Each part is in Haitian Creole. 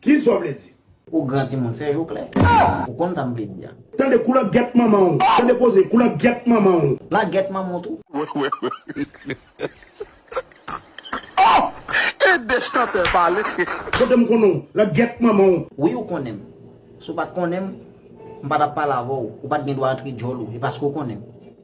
Ki sa w vle di? Ou gran timoun fè je w klè. Ou konn sa m vle di a. Tande kou langèt manman w. Tande koze kou langèt manman w. Langèt manman w tou. Ohh ede chantè pale. Kote m konnen w langèt manman w. Wi ou konnen m. Si w pa t konnen m, m pa t ap pale avè w. Ou pa t gen dwa antre djòl ou. E paske ou konnen m.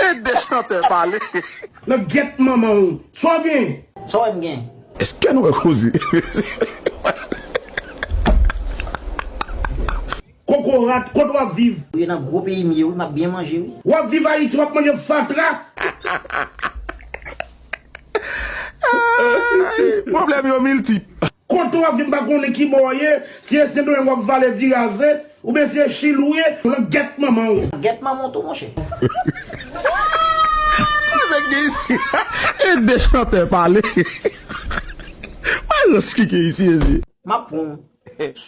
Ede chantè pale. Nan gyèt manmanw sa w gen. Sa w wè m gen. Eske nou wè koze mesye. Kokorat kot wap viv. Ou ye nan gwo peyi m ye wi map byen manje wi. Wap viv ayiti wap manje fatra. Problème yo miltip. Kote wap vin pa konnen ki bò w ye, si e sendomeng wap vale diraze, ou byen si e chili w ye, lan gèt manman w. Gèt manman w tou monchè. Sa nèg gen isi e de chantè pale. Maestro ski gen isi mezye. Map pran w.